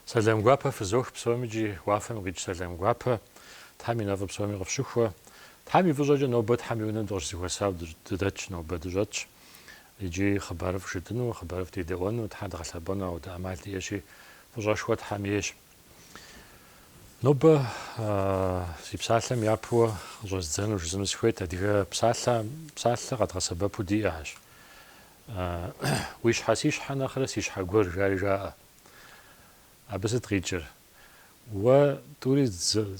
Сэлам гуапэ фызох псоми икӏи уафэм къикӏ сэлам гуапэ. Тхьэм и нэфӏыр псоми къыфщыхуэ. Тхьэм и фӏыщӏэкӏэ нобэ Тхьэм и унэм дыкъыщызэхуэсау дыдэтщ нобэ, дыщӏэтщ. Икӏи хъыбарыфӏ жытӏыну, хъыбарыфӏ дедэӏуэну, Тхьэ дгъэлъэпӏэну ауэдэ ӏэмал диӏэщи, фӏыщӏэшхуэ Тхьэм ейщ. Нобэ си псалъэм япэуэ къыщӏэздзэну жызыну сыхуейт, адыгэ псалъэ псалъэ къэдгъэсэбэпу диӏэщ. Уи щхьэ си щхьэ нэхърэ си щхьэ гуэр жари жаӏэ. Абы сыт къикӏыр? Уэ тӏури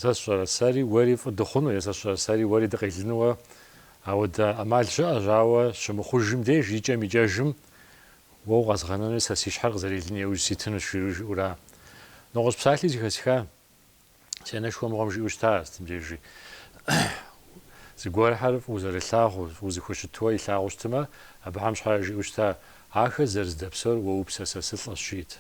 сэ сщӏэрэ сэри уэри фӏы дыхъуну е сэ сщӏэрэ сэри уэри дыкъелынуэ ауэдэ ӏэмал щыӏэщ, ауэ щымыхъужым деж икӏэм-икӏэжым, Уэ укъэзгъэнэнуи сэ си щхьэр къызэрелын еужь ситынущ, жиӏэура. Нэгъуэщӏ псалъи зыхэсха си анэшхуэ мыгъуэм жиӏэу щыта сытым дежи. Зыгуэрхэр фӏыу зэрылъагъуу, фӏыу зэхущытуэ илъагъуу щытымэ, абыхэм щхьэрэ жиӏэу щыта, ахэр зэрыздэпсэур уэ упсэ сэ сылӏэщ, жиӏэт.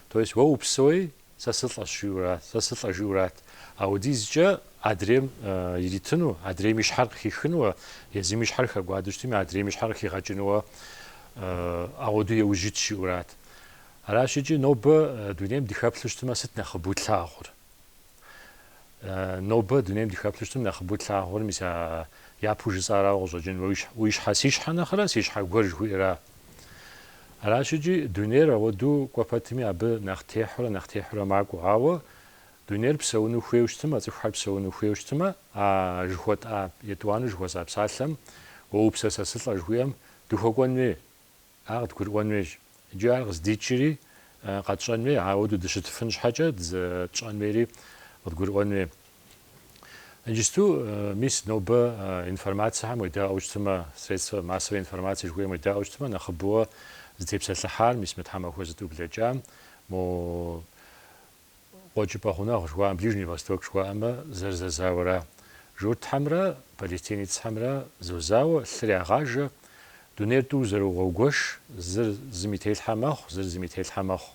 То есть уэ упсэуи, Сэ сылӏэщ жиӏэура, сэ сылӏэ жиӏэурат. Ауэдизкӏэ адрейм иритыну, адрейм и щхьэр къыхихынууэ, езым и щхьэр хэкӏуадэу щытми, адрейм и щхьэр къыхигъэкӏынууэ ауэду еужь ит жиӏэурат. Аращ икӏи нобэ дунейм дыхэплъу щытмэ, сыт нэхъыбэу тлъагъур? Нобэ дунейм дыхэплъу щытым нэхъыбэу тлъагъур, мис япэу жысӏарауэ къыщӏэкӏын, уи щхьэ си щхьэ нэхърэ си щхьэ гуэр жыхуиӏэра? Аращ икӏи дунейр ауэдэу кӏуэ пэтми абы нэхъ техьурэ нэхъ техьурэ макӏуэ. Ауэ дунейр псэуну хуейуэ щытмэ, цӏыхухэр псэуну хуейуэ щытмэ, а жыхуэтӏа етӏуанэу жыхуэсӏа псалъэм Уэ упсэ сэ сылӏэ жыхуиӏэм дыхуэкӏуэн хуей, ар къыдгурыӏуэн хуейщ. Икӏи ар къыздикӏри къэтщӏэн хуей, ауэду дыщытыфын щхьэкӏэ дызэтщӏэн хуейри къыдгурыӏуэн хуей. Иджысту, мис, нобэ информацэхэм уедаӏуэу щытмэ, средства массовой информации жыхуиӏэм уедаӏуэу щытмэ, нэхъыбэуэ зытепсэлъыхьар, мис мы тхьэмахуэ зытӏу блэкӏам, мо Къуэкӏыпӏэ гъунэгъу жыхуаӏэм, Ближний Восток жыхуаӏэмэ, зэрызэзауэра. Журтхьэмрэ палестинецхэмрэ зозауэ, лъыр ягъажэ, дунейр тӏу зэрогъуэгуэш, зыр зым и телъхьэ мэхъу, зыр зым и телъхьэ мэхъу.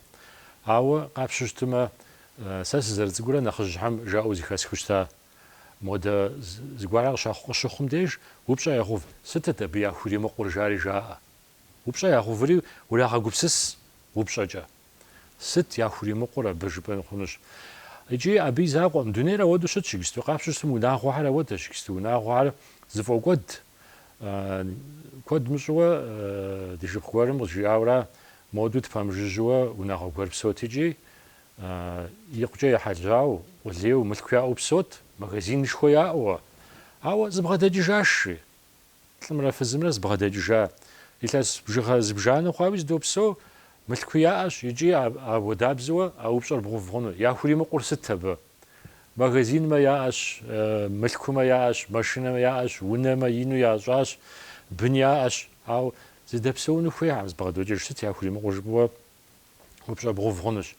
Ауэ, къапщу щытымэ, Сэ сызэрыцӏыкӏурэ нэхъыжьхэм жаӏэу зыхэсхыу щыта. Модэ зыгуэрхэр къыщыхъум деж, упщӏэ ягъув, сытыт абы яхуримыкъур жари жаӏэ. Упщӏэ ягъуври урагъэгупсыс упщӏэкӏэ. Сыт яхуримыкъур абы, жыпӏэн хъунущ. Икӏи абы и закъуэкъым. Дунейр ауэдэу щытщ иджысту. Къапщу щытым унагъуэхэр ауэдэщ иджысту. Унагъуэхэр зыфӏокӏуэд. Куэд мыщӏэуэ ди шыпхъу гуэрым къызжиӏауэра, Модэу тпэмыжыжьыуэ унагъуэ гуэр псот икӏи, икъукӏэ ехьэжьауэ, къулейуэ, мылъку яӏэу псот, магазинышхуэ яӏэуэ. Ауэ зыбгъэдэкӏыжащ, жи. Лӏымрэ фызымрэ зыбгъэдэкӏыжа. Илъэс бжыгъэ зыбжанэ хъуауи зыдопсэу, мылъку яӏэщ икӏи ауэдабзэуэ а упщӏэр бгъув хъуну. Яхуримыкъур сыт абы? Магазинмэ яӏэщ, мылъкумэ яӏэщ, машинэмэ яӏэщ, унэмэ ину ящӏащ, бын яӏэщ. Ауэ зыдэпсэуну хуейкъым, зыбгъэдокӏыж сыт яхуримыкъур жыпӏэуэ упщӏэ бгъув хъунущ.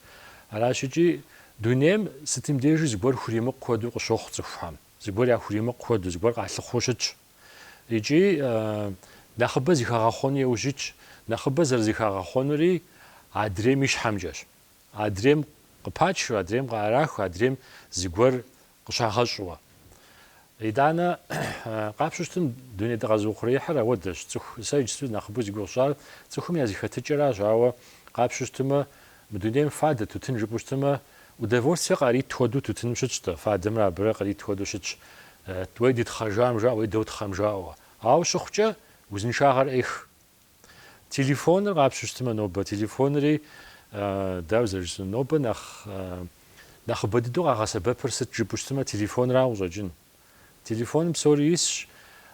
Аращ икӏи дунейм сытым дежи зыгуэр хуримыкъу хуэдэу къыщохъу цӏыхухэм, зыгуэр яхуримыкъу хуэдэу, зыгуэр къалъыхъуэу щытщ. Икӏи нэхъыбэ зыхагъэхъуэну яужь итщ, нэхъыбэ зэрызыхагъэхъуэнури адрейм и щхьэмкӏэщ. Адрейм къыпачу, адрейм къыӏэраху, адрейм зыгуэр къыщагъэщӏуэ. Итӏанэ, къапщу щытым, дуней дыкъэзыухъуреихьыр ауэдэщ. Цӏыху, сэ иджысту нэхъыбэу зыгугъу сщӏар цӏыхум я зыхэтыкӏэращ, ауэ къапщу щытымэ, мы дунейм фадэ тутын жыпӏэу щытымэ, удовольствие къарит хуэдэу тутыным щытщ-тӏэ, фадэмрэ абырэ къарит хуэдэу щытщ, уей дытхъэжам жаӏэ, уей дотхъэм жаӏэуэ. Ауэ щыхъукӏэ, узыншагъэр ӏех. Телефоныр къапщу щытымэ, нобэ телефонри, дауэ зэрыжысӏэнур, нобэ нэхъ нэхъыбэ дыдэу къагъэсэбэпыр сыт жыпӏэу щытымэ, телефонрауэ къыщӏэкӏын. Телефоным псори исщ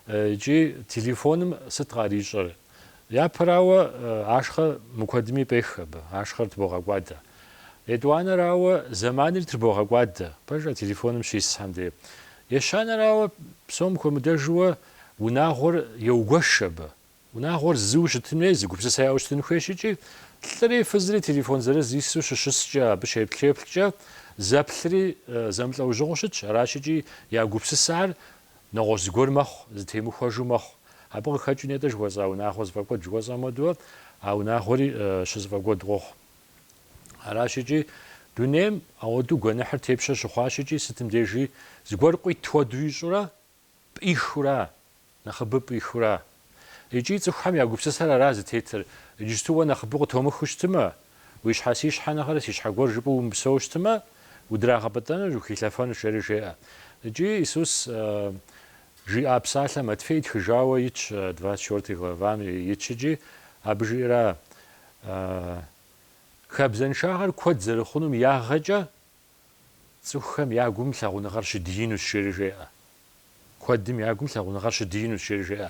икӏи телефоным сыт къарищӏэр? Япэрауэ, ашхъэ мыкуэдми пӏех абы, ашхъэр трбогъэкӏуадэ. Етӏуанэрауэ, зэманри трбогъэкӏуадэ, пэжа, телефоным щисхьэм де. Ещанэрауэ, псом хуэмыдэжуэ унагъуэр еугуэш абы, Унагъуэр зыу щытын хуей, зы гупсысэ яӏэу щытын хуейщ икӏи, лӏыри фызри телефон зырыз ису щыщыскӏэ, абы щеплъеплъкӏэ, зэплъри зэмылӏэужьыгъуэу щытщ, аращ икӏи я гупсысэхэр нэгъуэщӏ зыгуэр мэхъу, зытемыхуэжу мэхъу. Абы къыхэкӏыу нетӏэ жыхуэсӏа унагъуэ зыфӏэкӏуэд жыхуэсӏам хуэдэуэ, а унагъуэри щызыфӏэкӏуэд къохъу. Аращ икӏи дунейм ауэдэу гуэныхьыр тепщэ щыхъуащ икӏи сытым дежи зыгуэр къуит хуэдэу ищӏурэ пӏихыурэ, нэхъыбэу пӏихыурэ. Икӏи цӏыхухэм я гупсысэр ара зытетыр, иджысту уэ нэхъыбэу къытомыхыу щытымэ, уи щхьэ си щхьэ нэхърэ си щхьэ гуэр жыпӏэу умыпсэу щытымэ, удрагъэпӏытӏэнущ, ухилъэфэнущ, жери жеӏэ. Икӏи Исус жиӏа псалъэ Матфей тхыжауэ итщ, двадцать четвертый главам итщ икӏи, абы жиӏэра, Хабзэншагъэр куэд зэрыхъунум ягъэкӏэ Цӏыхухэм я гум лъагъуныгъэр щыдиинущ, жери жеӏэ. Куэдым я гум лъагъуныгъэр щыдиинущ, жери жеӏэ.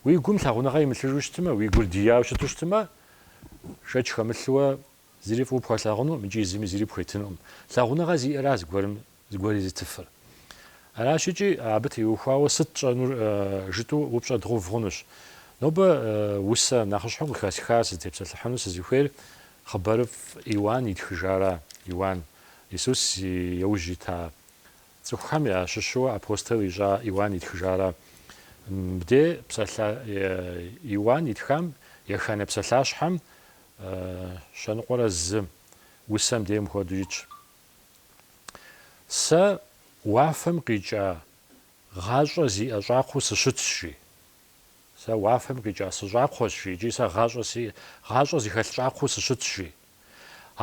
Уи гум лъагъуныгъэ имылъыжу щытмэ, уи гур дияуэ щыту щытмэ, шэч хэмылъуэ зыри фӏыуэ пхуэлъагъунукъым икӏи зыми зыри пхуетынукъым. Лъагъуныгъэ зиӏэра зыгуэрым зыгуэр езытыфыр. Аращ икӏи, абы теухуауэ сыт тщӏэнур жытӏу упщӏэ дгъув хъунущ. Нобэ усэ нэхъыщхьэу къыхэсхар сызытепсэлъыхьыну сызыхуейр Хъыбарыфӏ Иуан итхыжара? Иуан, Исус и яужь ита цӏыхухэм ящыщу апостол ищӏа Иуан итхыжара? Мыбдей псалъэ Иуан итхам еханэ псалъащхьэм щэныкъуэрэ зым усэм дей мыхуэдэу итщ, Сэ уафэм къикӏа гъащӏэ зиӏэ щӏакхъуэу сыщытщ, жи. Сэ уафэм къикӏа сыщӏакхъуэщ, жи, икӏи сэ гъащӏэ си, гъащӏэ зыхэлъ щӏакхъуэу сыщытщ, жи.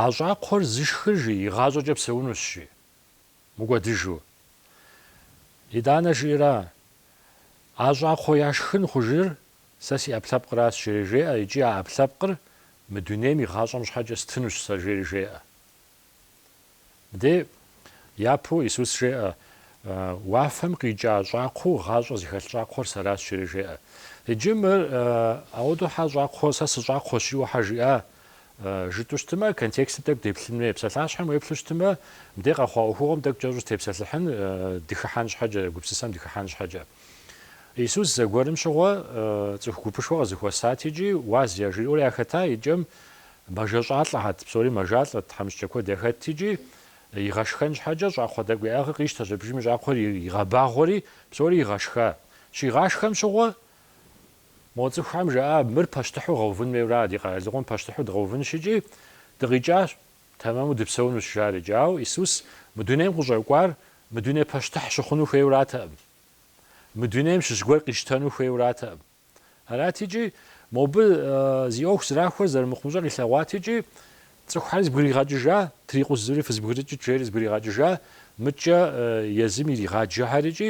А щӏакхъуэр зышхыр, жи, и гъащӏэкӏэ псэунущ, жи. Мыкӏуэдыжу. Итӏанэ жиӏэра, А щӏакхъуэ яшхын хъужыр сэ си ӏэпкълъэпкъращ, жери жеӏэ, икӏи а ӏэпкълъэпкъыр мы дунейм и гъащӏэм щхьэкӏэ стынущ сэ, жери жеӏэ. Де, япэу Исус жеӏэ, уафэм къикӏа щӏакхъуэу гъащӏэ зыхэлъ щӏакхъуэр сэращ, жери жеӏэ. Иджы мыр, ауэдэу хьэ щӏакхъуэ, сэ сыщӏакхъуэщ, жиӏэу хьэ жиӏа? жытӏэу щытмэ, контекстым тӏэкӏу деплъын хуей. Псалъащхьэм уеплъу щытмэ, мыбде къэхъуа ӏуэхугъуэм тӏэкӏу кӏэщӏу сытепсэлъыхьын, дыхыхьэн щхьэкӏэ, гупсысэм дыхыхьэн щхьэкӏэ. Исус зэгуэрым щыгъуэ цӏыху гупышхуэ къызэхуэсат икӏи уаз яжриӏэурэ яхэта, икӏэм Мэжэщӏалӏэхьэт, псори мэжалӏэт, тхьэмыщкӏэ куэд яхэт икӏи, игъэшхэн щхьэкӏэ щӏакхъуэ тӏэкӏу яӏыгъыр къищтэщ абдежым щӏакхъуэр игъэбагъуэри, псори игъэшха. Щигъашхэм щыгъуэ, мо цӏыхухэм жаӏа, мыр пащтыхьу гъэувын хуейуэ ара, ди къэралыгъуэм пащтыхьу дгъэувынщ икӏи, дыкъикӏащ, тэмэму дыпсэунущ, жари икӏи. Ауэ Исус мы дунейм къыщӏэкӏуар мы дуней пащтыхь щыхъуну хуейуэ аратэкъым. Мы дунейм щыщ гуэр къищтэну хуейуэ аратэкъым. Арати икӏи, мобы зи ӏуэху зрахуэр зэрымыхъумыщӏэр илъэгъуати икӏи, цӏыхухьэри зыбгригъэкӏыжат, ирикъунщ зыри фызбгрыкӏыт жери зыбгригъэкӏыжа, мыдкӏэ езым иригъаджэхьэр икӏи,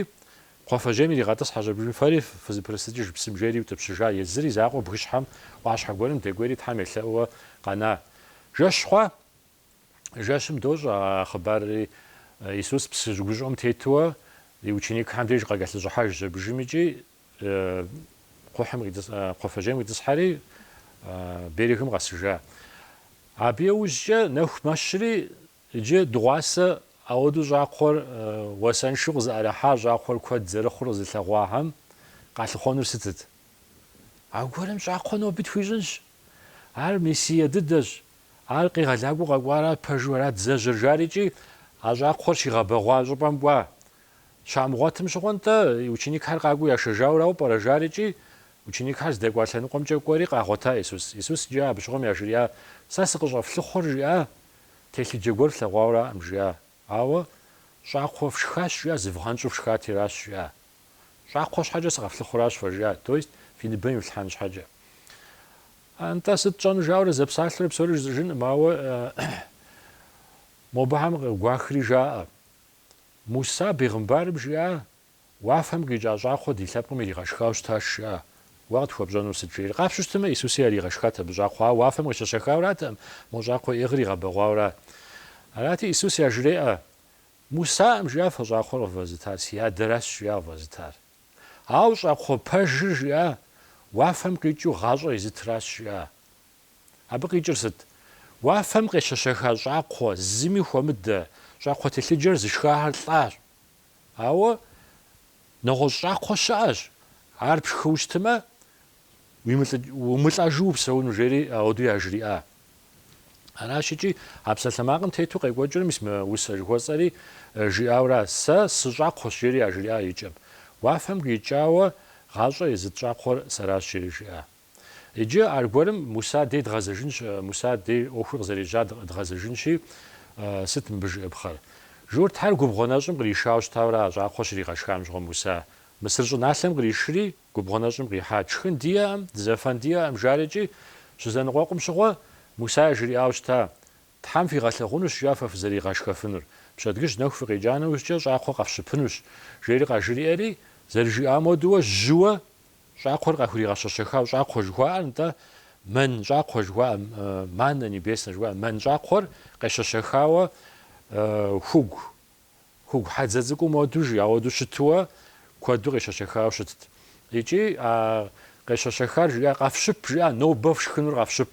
кхъуафэжьейм иригъэтӏысхьэщ абдежым, фэри фызыпрысыкӏыж псым жери иутӏыпщыжа, езыр и закъуэ бгыщхьэм ӏуащхьэ гуэрым дэкӏуейри Тхьэм елъэӏууэ къэна. Жэщ хъуа? Жэщым дощӏэ а хъыбарри, Исус псы щыгущӏэм тетуэ и ученикхэм деж къакӏэлъыщӏыхьэжщ абдежым икӏи кхъухьым кхъуафэжьейм къитӏысхьэри берегым къэсыжа. Абы яужькӏэ нэху мэщри иджы дыгъуасэ ауэдэу щӏакхъуэр уасэншэу къызыӏэрыхьа щӏакхъуэр куэд зэрыхъур къызылъэгъуахэм къалъыхъуэнур сытыт? Аргуэрым щӏакхъуэ ноби тхуищӏынщ, Ар Мессие дыдэщ, ар къегъэлакӏуэу къэкӏуара, пэжу ара дызэжьэр, жари икӏи а щӏакхъуэр щигъэбэгъуа щӏыпӏэм кӏуа. Щамыгъуэтым щыгъуэ, нтӏэ, ученикхэр къакӏуэу яшэжауэ арауэ пӏэрэ, жари икӏи ученикхэр здэкӏуа лъэныкъуэмкӏэ кӏуэри къагъуэта Исус. Исус иджы абы щыгъуэм яжриӏа, Сэ сыкъыщӏэфлыхъуэр, жиӏа, телъыджэ гуэр флъэгъуауэраӏэм, жиӏа, ауэ щӏакхъуэ фшхащ, жиӏа, зывгъэнщӏу фшхати аращ, жиӏа. Щӏакхъуэ щхьэкӏэ сыкъэфлъыхъуращ, фэ жиӏа, то есть фи ныбэм ифлъхьэн щхьэкӏэ. Нтӏэ, сыт тщӏэн, жаӏэурэ зэпсалъэурэ псори жысӏэжынкъым, ауэ мобыхьэм къыгуахри жаӏэ, Муса бегъымбарым жиӏа, уафэм къикӏа щӏакхъуэ ди лъэпкъым иригъэшхауэ щытащ, жиӏа, уэ къытхуэпщӏэнур сыт? жери. Къапщтэмэ, Исуси яригъэшхат абы щӏакхъуэ, ауэ уафэм къещэщэхауратэкъым, мо щӏакхъуэ яӏыгъыр игъэбэгъуауэрат. Арати, Исус яжреӏэ, Мусаӏэм жиӏа фэ щӏакхъуэр къывэзытар, си адэращ жиӏа къывэзытар. Ауэ щӏакхъуэ пэжыр жиӏа уафэм къикӏыу гъащӏэ езытращ жиӏа. Абы къикӏыр сыт? Уафэм къещэщэха щӏакхъуэ, зыми хуэмыдэ, щӏакхъуэ телъыджэр зышхахэр лӏащ. Ауэ нэгъуэщӏ щӏакхъуэ щыӏэщ, ар пшхыу щытымэ, Умылӏэжу упсэуну, жери ауэдэу яжриӏа. Аращ икӏи а псалъэмакъым тету къекӏуэкӏыр мис мы усэ жыхуэсӏэри жиӏауэра, Сэ сыщӏакхъуэщ, жери яжриӏа и кӏэм. Уафэм къикӏауэ гъащӏэ езыт щӏакхъуэр сэращ, жери жиӏа. Иджы аргуэрым Муса дей дгъэзэжынщ, Муса дей ӏуэхур къызэрежьа дгъэзэжынщи, сыт мыбы жыӏэпхъэр? Журтхьэр губгъуэ нэщӏым къришауэ щытауэра а щӏакхъуэр щригъэшхам щыгъуэ Муса? Мысыр щӏыналъэм къришри, Губгъуэ нэщӏым къихьа тшхын диӏэӏэм, дызэфэн диӏэӏэм жари икӏи, щызэныкъуэкъум щыгъуэ, Муса яжриӏауэ щыта, Тхьэм фигъэлъэгъунущ, жа фэ фызэригъэшхэфынур, пщэдгыжь нэху фыкъекӏа нэужькӏэ щӏакхъуэ къэфщыпынущ, жери къажриӏэри, зэрыжиӏам хуэдэуэ жьыуэ щӏакхъуэр къахуригъэщэщэхауэ щӏакхъуэ жыхуаӏэр, нтӏэ, мэн щӏакхъуэ жыхуаӏэ, маннэ небеснэ жыхуаӏэ мэн щӏакхъуэр къещэщэхауэ хугу Хугу хьэдзэ цӏыкӏум хуэду жи, ауэду щытуэ куэду къещэщэхауэ щытт. Икӏи а къещэщэхар жиӏа, къэфщып жиӏа, нобэ фшхынур къэфщып.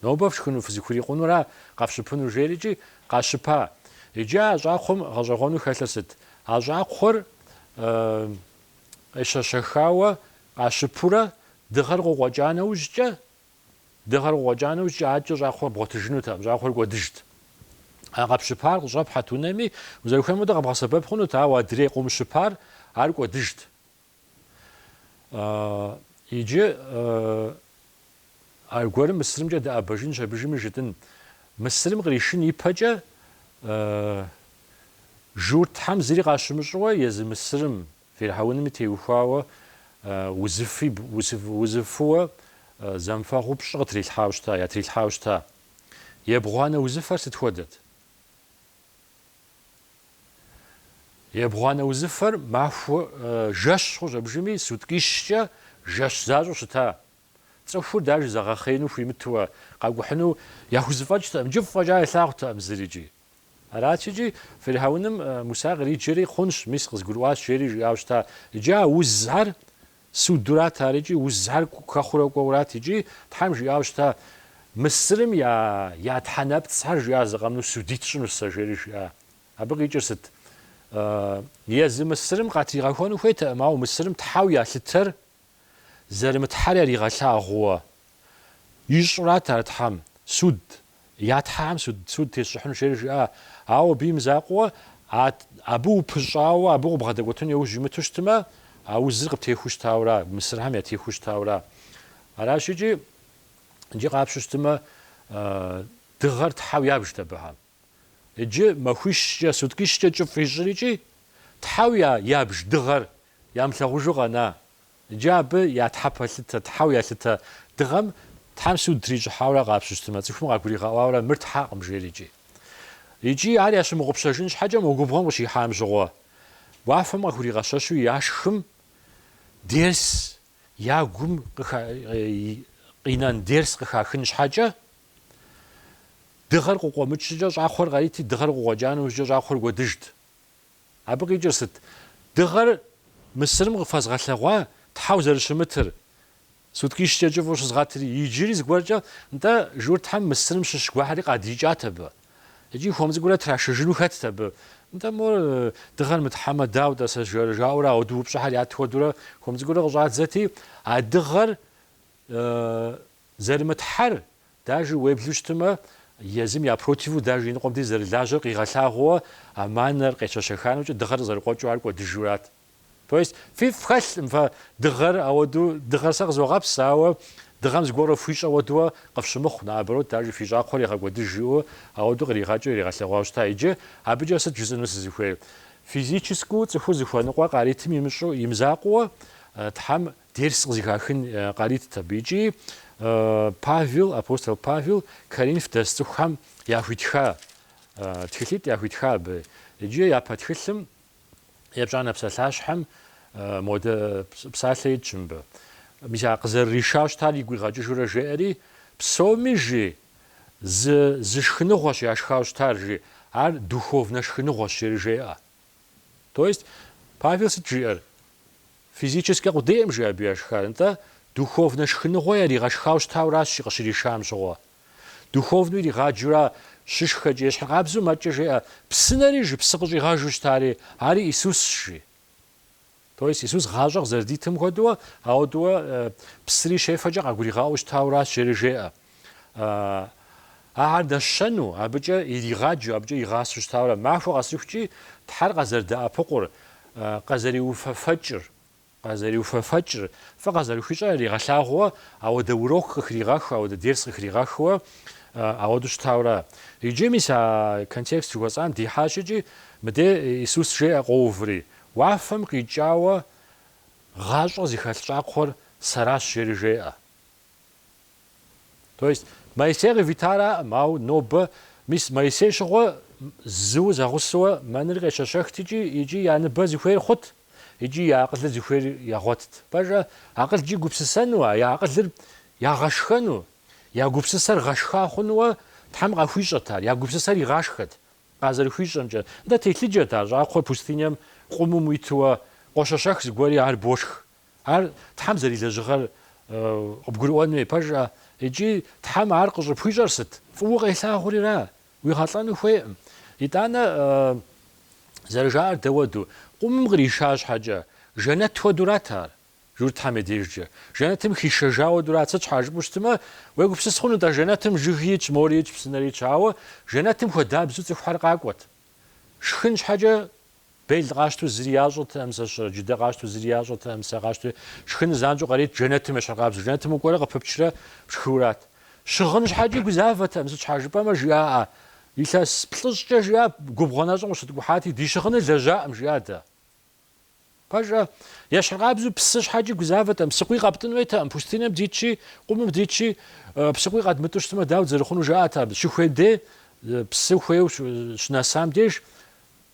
Нобэ фшхыну фызыхурикъунура къэфщыпынур жери икӏи къащыпа. Иджы а щӏакхъуэм гъэщӏэгъуэну хэлъыр сыт? А щӏакхъуэр къещэщэхауэ къащыпурэ дыгъэр къыкъуэкӏа нэужькӏэ, Дыгъэр къыкъуэкӏа нэужькӏэ адэкӏэ щӏакхъуэр бгъуэтыжынутэкъым, щӏакхъуэр кӏуэдыжт. А къэпщыпар къыщӏэпхьэт унэми, узэрыхуейм хуэдэу къэбгъэсэбэп хъунут, ауэ адрей къыумыщыпар ар кӏуэдыжт. Иджы аргуэрым Мысырымкӏэ дыӏэбэжынщ, абдежыми жытӏын. Мысырым къришын ипэкӏэ, Журтхьэм зыри къащымыщӏыуэ, езы Мысырым Фирхьэуными теухуауэ узыфэу зэмыфэгъуу пщӏы къытрилъхьауэ щыта, ятрилъхьауэ щыта. Ебгъуанэ узыфэр сыт хуэдэт? Ебгъуанэ узыфэр махуэ жэщ хъущ, абыжыми суткӏищкӏэ жэщ защӏэу щыта. Цӏыхур дажи зэгъэхъеину хуимытуэ, къакӏухьыну яхузэфӏэкӏтэкъым, кӏыфӏ фӏэкӏа илъагъуртэкъым зыри икӏи. Арат икӏи фирхьэуным Муса къриджэри, Хъунщ, мис къызгурыӏуащ, жери жиӏауэ щыта. Иджы а узхэр судурат ар икӏи узхэр хэхъурэ кӏуэурат икӏи Тхьэм жиӏауэ щыта, Мысырым я я тхьэнэпцӏхэр жиӏа, зы къэмынэу судить сщӏынущ сэ, жери жиӏа. Абы къикӏыр сыт? Езы Мысырым къатригъэхуэну хуейтэкъым, ауэ Мысырым тхьэу ялъытэр зэрымытхьэр яригъэлъагъууэ ищӏырат ар Тхьэм суд Я тхьэхэм суд тесщӏыхьынущ жери жиӏа, ауэ абы имызакъуэу, а абы упыщӏауэ абы къыбгъэдэкӏуэтыну яужь имыту щытмэ, а узыр къыптехуэу щытауэра, Мысырхэм ятехуэу щытауэра. Аращ икӏи, иджы къапщу щытмэ, дыгъэр тхьэу ябжт абыхэм. Иджы махуищкӏэ, суткищкӏэ кӏыфӏ ищӏыр икӏи, тхьэу ябж дыгъэр ямылъагъужу къэна, Иджы абы я тхьэ пэлъытэ, тхьэу ялъытэ дыгъэм Тхьэм суд трищӏыхьауэрэ къапщу щытмэ, цӏыхум къагуригъэӏуауэрэ мыр тхьэкъым жери икӏи. Икӏи ар ящымыгъупщэжын щхьэкӏэ мо губгъуэм къыщихьам щыгъуэ, уафэм къахуригъэщэщу яшхым дерс, я гум къинэн дерс къыхахын щхьэкӏэ, дыгъэр къыкъуэмыкӏ щӏыкӏэ щӏакхъуэр къарити, дыгъэр къыкъуэкӏа нэужькӏэ щӏакхъуэр кӏуэдыжт. Абы къикӏыр сыт? Дыгъэр Мысырым къыфэзгъэлъэгъуа тхьэу зэрыщымытыр, суткищкӏэ кӏыфӏу щызгъэтри, иджыри зыгуэркӏэ, нтӏэ, журтхэм Мысырым щыщ гуэрхэри къадикӏат абы. Икӏи хуэм цӏыкӏурэ трашыжыну хэтт абы. Нтӏэ, мор, дыгъэр мытхьэмэ, дауэ-тӏэ, сэ? жаӏэурэ ауэдуу упщӏэхэр ят хуэдэурэ хуэм цӏыкӏурэ къыщӏадзэти, а дыгъэр зэрымытхьэр Дажи уеблу щытымэ, езым я противу дажи иныкъуэм дей зэрылажьэр къигъэлъагъууэ а манэр къещэщэха нэужькӏэ дыгъэр къызэрыкъуэкӏыу ар кӏуэдыжурат. То есть фифӏ хэлъмэ дыгъэр, ауэду дыгъэр сэ къызогъэпс, ауэ дыгъэм зыгуэрэ фхуищӏэ ауэдууэ къыфщымыхъу, наоборот, дажи фи щӏакхъуэр егъэкӏуэдыж жиӏэу ауэду къригъэкӏыу иригъэлъэгъуауэ щыта. Иджы абыкӏэ сыт жысӏэну сызыхуейр? Физическэу цӏыхур зыхуэныкъуэ къаритым имыщӏу, имызакъуэу Тхьэм Дерс къызыхахын къаритт абы икӏи Павел, апостол Павел Коринф дэс цӏыхухэм яхуитха тхылъитӏ яхуитха абы икӏи япэ тхылъым епщӏанэ псалъащхьэм модэ псалъэ итщ мыбы. Мис а къызэрыришауэ щытар игу игъэкӏыжурэ жеӏэри, Псоми жи, зы зы шхыныгъуэщ яшхауэ щытар жи, ар духовнэ шхыныгъуэщ жери жеӏэ. То есть Павел сыт жиӏэр? Физическэ къудейӏым жи абы яшхар, нтӏэ, духовнэ шхыныгъуэ яригъэшхау щытауращ жи, къыщришам щыгъуэ. Духовнэу иригъаджэура щышхэкӏэ, ещхьыркъабзэу мэкӏэ жеӏэ, псынэри жи псы къыщӏигъэжу щытари, ари Исусщ, жи. То есть Исус гъащӏэ къызэрыдитым хуэдэуэ, ауэдууэ псыри щефэкӏэ къагуригъаӏуэу щытауращ, жери жеӏэ. Ахэр дэщэну, абыкӏэ иригъаджэу, абыкӏэ игъасэу щытаура, махуэ къэсыхукӏи, Тхьэр къазэрыдэӏэпыкъур, къэзэриуфэфэкӏыр, къэзэриуфэфэкӏыр, фӏы къазэрыхуищӏэр яригъэлъагъууэ, ауэдэ урок къыхригъэху, ауэдэ дерс къыхригъэхууэ, ауэдэу щытаура. Иджы, мис, а контекст жыхуэсӏам дихьащ икӏи, мыдэ Исус жеӏэ къоуври, Уафэм къикӏауэ гъащӏэ зыхэлъ щӏакхъуэр Сэращ, жери жеӏэ. То есть Моисей къывитараӏым, ауэ нобэ, мис Моисей щыгъуэ зыу зэгъусэуэ мэныр къещэщэхт икӏи, икӏи я ныбэ зыхуейр хъут, икӏи я акъылыр зыхуейр ягъуэтт. Пэжа, акъылкӏи гупсысэну, а я акъылыр ягъэшхэну, я гупсысэр гъэшха хъунууэ Тхьэм къахуищӏэт ар, я гупсысэр игъашхэт, къазэрыхуищӏэмкӏэ. Нтӏэ, телъыджэт ар, щӏакхъуэ пустыням къумум уитууэ, къощэщэх зыгуэри ар бошх, Ар Тхьэм зэрилэжьыгъэр къыбгурыӏуэн хуей, пэжӏэ икӏи Тхьэм ар къыщӏыпхуищӏэр сыт? Фӏыуэ укъелъагъурира? Уигъэлӏэну хуейкъым. Итӏанэ зэрыжаӏэр дауэду? Къумым къриша щхьэкӏэ, жэнэт хуэдурат ар, журтхэм я дежкӏэ. Жэнэтым хишэжа хуэдурат. Сыт щхьа жыпӏэу щытмэ, уегупсыс хъунут, а жэнэтым жыги итщ, мори итщ, псынэри итщ. Ауэ жэнэтым хуэдабзэу цӏыхухэр къакӏуэт. Шхын щхьэкӏэ Бел къащту зыри ящӏэтэкъым сэ щырэ, джыдэ къащту зыри ящӏэтэкъым сэ къащту. Шхыныр занщӏэу къаритт жэнэтым ещхьыркъабзэу. Жэнэтым укӏуэрэ къыпыпчрэ пшхыурат. Щыгъын щхьэкӏи гузавэтэкъым, сыт щхьа жыпӏэмэ жиӏаӏэ, илъэс плӏыщӏкӏэ жиӏа, губгъуэ нэщӏым къыщыткӏухьати, ди щыгъыныр лэжьакъым, жиӏа дэ. Пэжа, ещхьыркъабзэу псы щхьэкӏи гузавэтэкъым, псыкъуий къэптӏын хуейтэкъым, пустынэм дитщи, къумым дитщи, псыкъуий къэдмытӏу щытмэ, дауэт зэрыхъунур жаӏат абы. Щыхуей дей, псы хуейуэ щынэсам деж,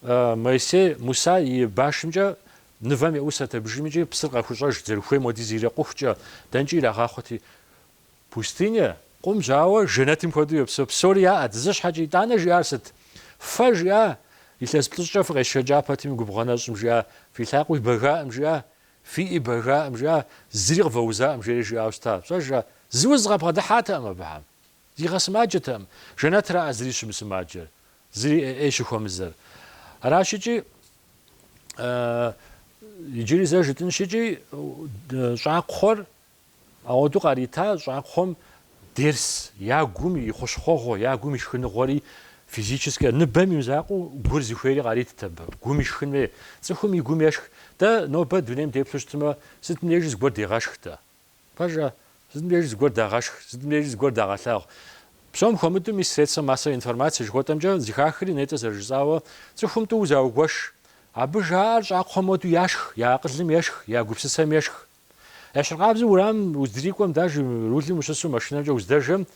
Моисей Муса и башымкӏэ нывэм еӏусэрт абыжым икӏи псыр къахущӏэжырт, зэрыхуейм хуэдиз ирикъухукӏэ, дэнкӏи ирагъахъуэти, Пустынэ, къумщ, ауэ жэнэтым хуэдэу йопсэу. Псори яӏэт. Зы щхьэкӏэ итӏанэ жиӏар сыт? Фэ жиӏа? Илъэс плӏыщӏкӏэ фыкъесшэкӏа пэтми губгъуэ нэщӏым жиӏа? Фи лъакъуи бэгаӏым жиӏа? Фи ӏи бэгаӏым жиӏа? Зыри къывэузаӏым жери жиӏауэ щыта? Пэжа? Зы уз къабгъэдыхьатэкъым абыхэм. Игъэсымаджэтэкъым. Жэнэтраӏэ зыри щымысымаджэр, зыри ӏей щыхуэмызэр. Аращыкӏи, иджыри зэ жытӏынщыкӏи, щӏакхъуэр Ауэдэу къарита щӏакхъуэм дерс я гум и хъущхъуэгъуэ, я гум и шхыныгъуэри, физическэ ныбэм и мызакъуэу гур зыхуейри къаритт абы. Гум ишхын хуей. Цӏыхум и гум ешх. Дэ нобэ дунейм деплъу щытмэ, сытым дежи зыгуэр дегъэшх-тӏэ. Пэжа? Сытым дежи зыгуэр дагъэшх, сытым дежи зыгуэр дагъэлъагъу. Псом хуэмыдэу мис средствэ массовой информации жыхуэтӏэмкӏэ зыхахри нетӏэ зэрыжысӏауэ, цӏыхум тӏуу заугуэш. Абы жаӏэр щӏакхъуэм уэду яшх, я акъылым ешх, я гупсысэм ешх. Ещхьыркъабзэу уэрамым уздрикӏуэм, дэж рулым ущысу машинэмкӏэ уздэжэм,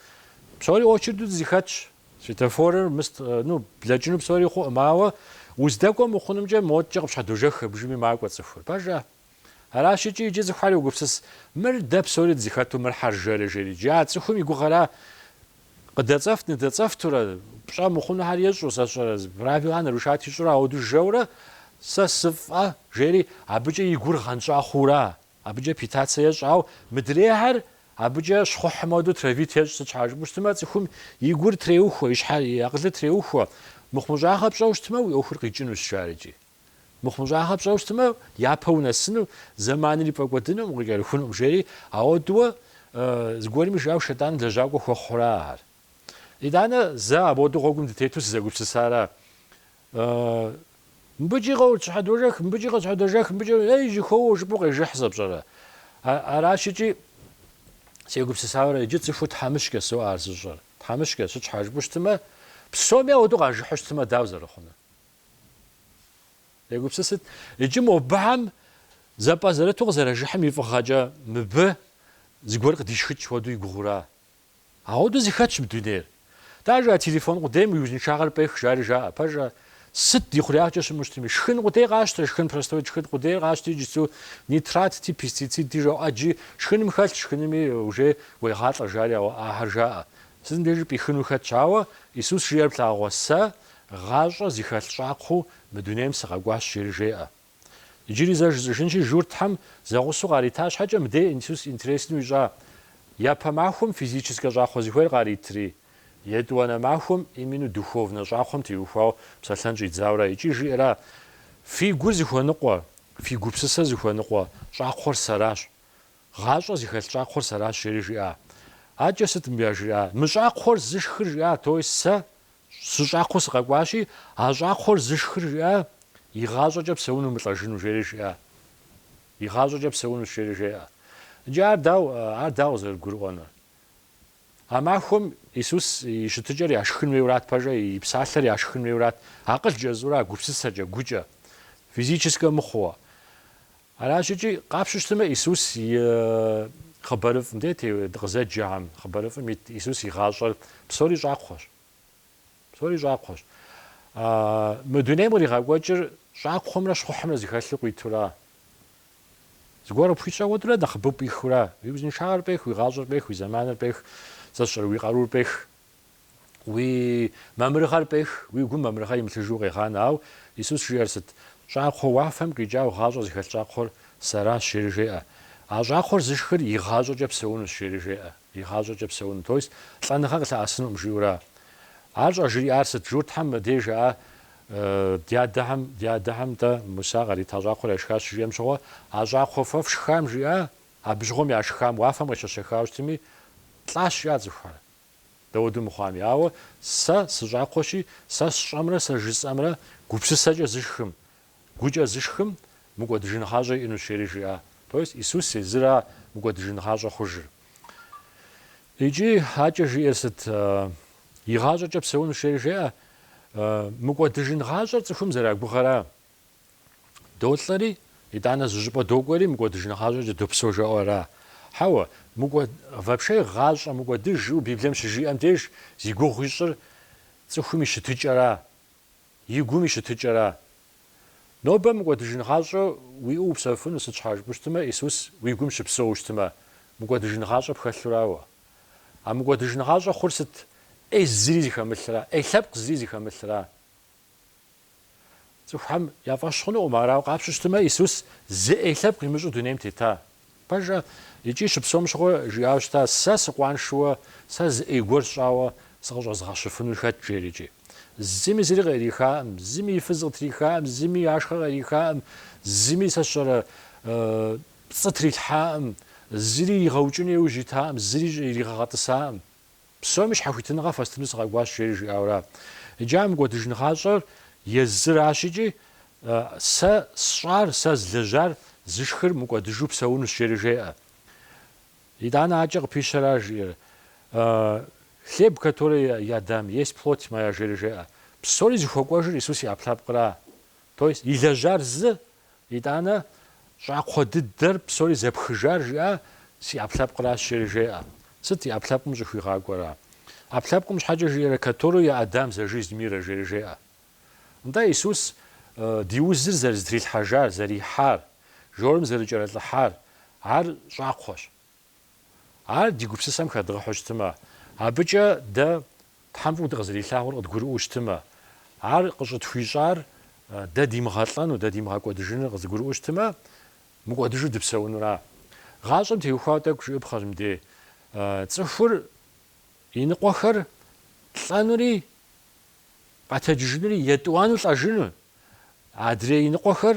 псори очерду дызыхэтщ. Светофорыр мыст, ну, блэкӏыну псори хъуӏым, ауэ уздэкӏуэ мыхъунымкӏэ модкӏэ къыпщхьэдожэх абыжыми макӏуэ цӏыхур. Пэжа? Аращ икӏи иджы цӏыхухэр йогупсыс, мыр дэ псори дызыхэту, мыр хьэржэрэ жери. Иджы а цӏыхум и гугъэра Къыдэцӏэфт ныдэцӏэфтурэ, пщӏэ мыхъунухэр ещӏу, сэ сщӏэрэ, правилэ нарушат ищӏурэ ауэду жэурэ, сэ сыфӏэ, жери абыкӏэ и гур гъэнщӏа хъуура? Абыкӏэ питацэ ещӏ, ау мыдрейхэр абыкӏэ щхъухьым хуэдэу травит ещӏ, сыт щхьа жыпӏэу щытмэ, цӏыхум и гур треухуэ, и щхьэр, и акъылыр треухуэ. Мыхъумыщӏагъэ пщӏэу щытмэ, уи ӏуэхур къикӏынущ, жарэкӏи. Мыхъумыщӏагъэ пщӏэу щытмэ, япэ унэсыну, зэманри пфӏэкӏуэдынуӏым, укъыкӏэрыхунуӏым, жери. Ауэдууэ зыгуэрми жиӏауэ Шэйтӏаным лэжьакӏуэ хуэхъура ар? Итӏанэ зэ абоду гъуэгум дытету сызэгупсысара? Мыбыкӏи къэутщхьэдожэх, мыбыкӏи къэутщхьэдожэх, мыбыкӏи, ей, жьыхуэуэ, жыпӏэу къежыхь сэ пщӏэрэ? Аращ икӏи сегупсысара, иджы цӏыхур тхьэмыщкӏэ соӏэ ар зыщӏэр. Тхьэмыщкӏэ, сыт щхьа жыпӏэу щытмэ, псоми ауэду къажыхьу щытмэ, дауэ зэрыхъунур? Егупсысыт, иджы мобыхьэм зэпӏэзэрыту къызэражыхьым и фӏыгъэкӏэ мыбы зыгуэр къыдишхыкӏ хуэдэу и гугъура? Ауэдэу зыхэтщ мы дунейр. Даже а телефон къудейм уи узыншагъэр пӏех, жари жаӏэ, пэжа, сыт ди хъуреягъкӏэ щыӏэу щытми. Шхын къудей къащтэ, шхын простой шхын къудейр къащти, иджыцу нитратти, пестицидти жаӏэ иджы, шхыным хэлъ, шхыными уже уегъалӏэ, жари, ауэ ахэр жаӏэ. Сытым дежи пӏихыну хэтщ, ауэ Исус жиӏэр плъагъурэ, Сэ Гъащӏэ зыхэлъ щӏакхъуэу мы дунейм сыкъэкӏуащ, жери жеӏэ. Иджыри зэ жысӏэжынщи, журтхэм зэгъусэу къарита щхьэкӏэ мыдей Исус интересну ищӏа. Япэ махуэм физическэ щӏакхъуэ зыхуейр къаритри, етӏуанэ махуэм именно духовнэ щӏакхъуэм теухуауэ псэлъэн щӏидзауэра икӏи жиӏэра, Фи гур зыхуэныкъуэ, фи гупсысэр зыхуэныкъуэ щӏакхъуэр сэращ. Гъащӏэ зыхэлъ щӏакхъуэр сэращ, жери жиӏа. Адэкӏэ сыт мыбы яжриӏар? Мы щӏакхъуэр зышхыр жиӏа то есть сэ Сыщӏакхъуэу сыкъэкӏуащи, а щӏакхъуэр зышхыр жиӏа, Игъащӏэкӏэ псэуну мылӏэжыну, жери жиӏа. Игъащӏэкӏэ псэунущ, жери жеӏэ. Иджы ар дау, ар дауэ зэрыдгурыӏуэнур? А махуэм Исус и щытыкӏэр яшхын хуейурат пэжӏэ, и псалъэр яшхын хуейурат, акъылкӏэ жысӏэура, а гупсысэкӏэ, гукӏэ, физическэ мыхъууэ. Аращ икӏи къапщу щытымэ Исус и хъыбарыфӏым дэ дыкъызэджэхэм, хъыбарыфӏым ит Исус и гъащӏэр псори щӏакхъуэщ. Псори щӏакхъуэщ. Мы дунейм къригъэкӏуэкӏыр щӏакхъуэмрэ щхъухьымрэ зыхэлъу къуитура? Зыгуэр къыпхуищӏэ хуэдурэ нэхъыбэу пӏихыура? Уи узыншагъэр пӏех, уи гъащӏэр пӏех, уи зэманыр пӏех, сэ сщӏэрэ, уи къарур пӏех, Уи мамырыгъэр пӏех, уи гум мамырыгъэ имылъыжу къегъанэ. Ауэ Исус жиӏэр сыт? Щӏакхъуэ уафэм къикӏауэ гъащӏэ зыхэлъ щӏакхъуэр сэращ, жери жеӏэ. А щӏакхъуэр зышхыр игъащӏэкӏэ псэунущ, жери жеӏэ. Игъащӏэкӏэ псэуну, то есть лӏэныгъэ къылъэӏэсынукъым, жиӏэура? Ар щӏэжриӏар сыт? Журтхэм мыбдеж жаӏэ, Дядэхэм, ди адэхэм тӏэ Муса кърита щӏакхъуэр яшхащ, жиӏэм щыгъуэ, а щӏакхъуэ фэ фшхам жиӏа, абы щыгъуэм яшхам, уафэм къещэщэхауэ щытми, лӏащ, жиӏа цӏыхухэр. Дауэду мыхъуами. Ауэ сэ сыщӏакхъуэщи, сэ сщӏэмрэ сэ жысӏэмрэ гупсысэкӏэ зышхым, гукӏэ зышхым, мыкӏуэдыжын гъащӏэ иӏэнущ, жери жиӏа. То есть Исус езыра мыкӏуэдыжын гъащӏэ хъужыр. Икӏи адэкӏэ жиӏэр сыт? Игъащӏэкӏэ псэунущ, жери жеӏэ. Мыкӏуэдыжын гъащӏэр цӏыхум зэрагугъэра? Долӏэри, итӏанэ зы щӏыпӏэ докӏуэри, мыкӏуэдыжын гъащӏэкӏэ допсэу жаӏэу ара? Хьэуэ, мыкӏуэ, вообще гъащӏэ мыкӏуэдыж жиӏэу Библием щыжиӏэм деж зи гугъу ищӏыр цӏыхум и щытыкӏэра, и гум и щытыкӏэра? Нобэ мыкӏуэдыжын гъащӏэ уиӏэу упсэуфыну сыт щхьэ жыпӏэу щытмэ, Исус уи гум щыпсэуу щытмэ, мыкӏуэдыжын гъащӏэ пхэлъурауэ. А мыкӏуэдыжын гъащӏэ хъур сыт? ӏей зыри зыхэмылъра, ӏей лъэпкъ зыри зыхэмылъра? Цӏыхухэм я фӏэщ хъунукъым, арауэ къапщу щытмэ, Исус зы ӏей лъэпкъ имыщӏу дунейм тета. Пэжӏэ, икӏи щыпсэум щыгъуэ жиӏауэ щыта, Сэ сыкъуаншэуэ, сэ зы ӏей гуэр сщӏауэ сыкъыщӏэзгъэщыфынур хэт? жери икӏи. Зыми зыри къерихаӏым, зыми и фыз къытрихаӏым, зыми и ашхъэ къерихаӏым, зыми сэ сщӏэрэ пцӏы трилъхьаӏым, зыри игъэукӏыну иужь итаӏым, зыри иригъэгъэтӏысаӏым. Псоми щхьэхуитыныгъэ фэстыну сыкъэкӏуащ, жери жиӏауэра. Иджы а мыкӏуэдыжын гъащӏэр езыращ икӏи сэ сщӏар, сэ злэжьар зышхыр мыкӏуэдыжу псэунущ, жери жеӏэ. Итӏанэ акӏэ къыпищэра жиӏэр? Хлеб, который я дам, есть плоть моя, жери жеӏэ. Псори зыхуэкӏуэжыр Исус и ӏэпкълъэпкъра? То есть илэжьар зы, Итӏанэ, щӏакхъуэ дыдэр псори зэпхыжар жиӏа си ӏэпкълъэпкъращ, жери жеӏэ. Сыт и ӏэпкълъэпкъым щӏыхуигъакӏуэра? ӏэпкълъэпкъым щхьэкӏэ жиӏэрэ Которую я отдам за жизнь мира, жери жеӏэ. Нтӏэ, Исус ди узыр зэрызытрилъхьэжар, зэрихьар, жорым зэрыкӏэрылӏыхьар, ар щӏакхъуэщ. Ар ди гупсысэм хэдгъэхьу щытмэ, абыкӏэ дэ Тхьэм фӏыуэ дыкъызэрилъагъур къыдгурыӏуэу щытмэ, Ар къыщӏытхуищӏар дэ димыгъэлӏэну, дэ димыгъэкӏуэдыжыну къызыгурыӏуэу щытмэ, мыкӏуэдыжу дыпсэунура? Гъащӏэм теухуауэ тӏэкӏу жыӏэпхъэщ мыдей. Цӏыхур иныкъуэхэр лӏэнури къэтэджыжынури, етӏуанэу лӏэжыну, адрей иныкъуэхэр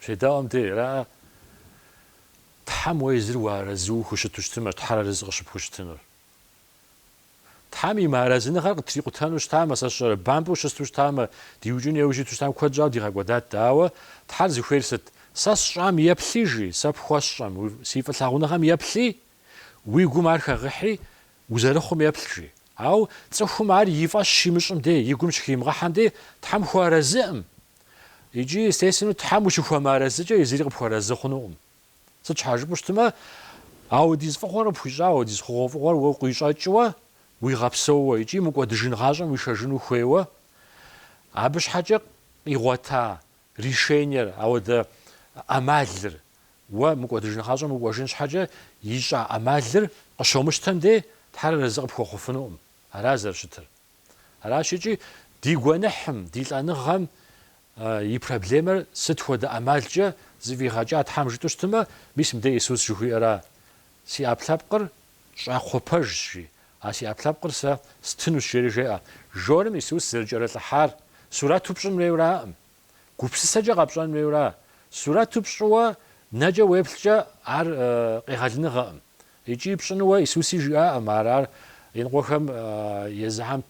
Щедаӏуэм де ара, Тхьэм уэ езыр уарэзыу ухущыту щытымэ, Тхьэр арэзы къыщыпхущытынур. Тхьэм и мыарэзыныгъэр къытрикъутэну щытамэ, сэ сщӏэрэ, бампӏэу щысту щытамэ, диукӏыну еужь иту щытам куэд щӏауэ дигъэкӏуэдат дэ. Ауэ Тхьэр зыхуейр сыт? Сэ сщӏам еплъи, жи, сэ пхуэсщӏэм, си фӏылъагъуныгъэм еплъи, Уи гум ар хэгъыхьи, узэрыхъум еплъ, жи. Ауэ цӏыхум ар и фӏэщ щимыщӏым дей, и гум щыхимыгъэхьэм дей Тхьэм хуэарэзыӏым. Икӏи, естественнэу, Тхьэм ущыхуэмыарэзыкӏэ езыри къыпхуэарэзы хъунукъым. Сыт щхьа жыпӏэу щытмэ, ауэдиз фӏыгъуэр къыпхуищӏауэ, ауэдиз хъугъуэфӏыгъуэр уэ къыуищӏэкӏыуэ, уигъэпсэууэ икӏи мыкӏуэдыжын гъащӏэм уишэжыну хуейуэ, абы щхьэкӏэ къигъуэта решениер, ауэдэ ӏэмалыр Уэ мыкӏуэдыжын гъащӏэм укӏуэжын щхьэкӏэ ищӏа ӏэмалыр къыщомыщтэм дей Тхьэр арэзы къыпхуэхъуфынукъым. Ара зэрыщытыр. Аращ икӏи ди гуэныхьым, ди лӏэныгъэм и проблемэр сыт хуэдэ ӏэмалкӏэ зыфӏигъэкӏа Тхьэм жытӏэу щытмэ, мис мыдей Исус жыхуиӏэра, Си ӏэпкълъэпкъыр щӏакхъуэ пэжщ, жи, а си ӏэпкълъэпкъыр Сэ стынущ, жери жеӏэ. Жорым Исус зэрыкӏэрылӏыхьар сурэту пщӏын хуейуэраӏым. Гупсысэкӏэ къэпщӏэн хуейуэра? Сурэту пщӏыуэ нэкӏэ уеплъкӏэ ар къегъэлыныгъэкъым. Икӏи пщӏынуэ Исуси жиӏаӏым ар, ар иныкъуэхэм езыхэм